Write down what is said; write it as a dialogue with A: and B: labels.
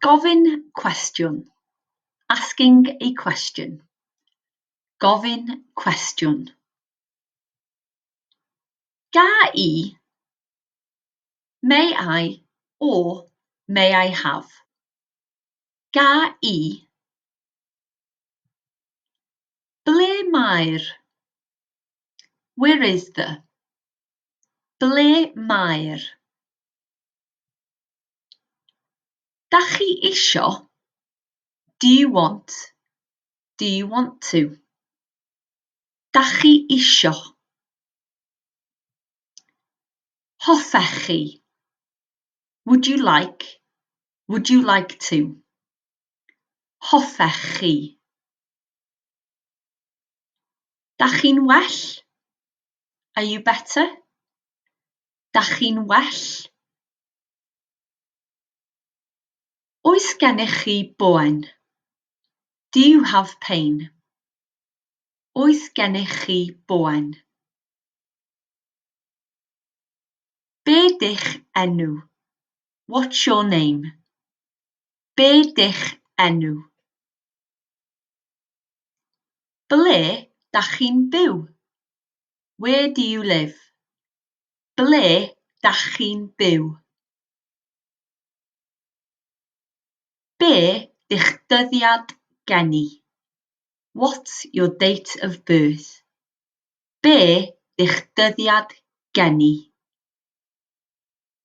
A: Gofyn cwestiwn, asking a question. Gofyn cwestiwn. Ga i, may I or may I have? Ga i. Ble mae'r, where is the? Ble mae'r. Dach chi isio? Do you want? Do you want to? Dach chi isio? Hoffech chi? Would you like? Would you like to? Hoffech chi? Dach chi'n well? Are you better? Dach chi'n well? Oes gennych chi boen? Do you have pain? Oes gennych chi boen? Be dych enw? What's your name? Be dych enw? Ble da chi'n byw? Where do you live? Ble dach chi'n byw? Be di'ch dyddiad geni? What's your date of birth? Be di'ch dyddiad geni?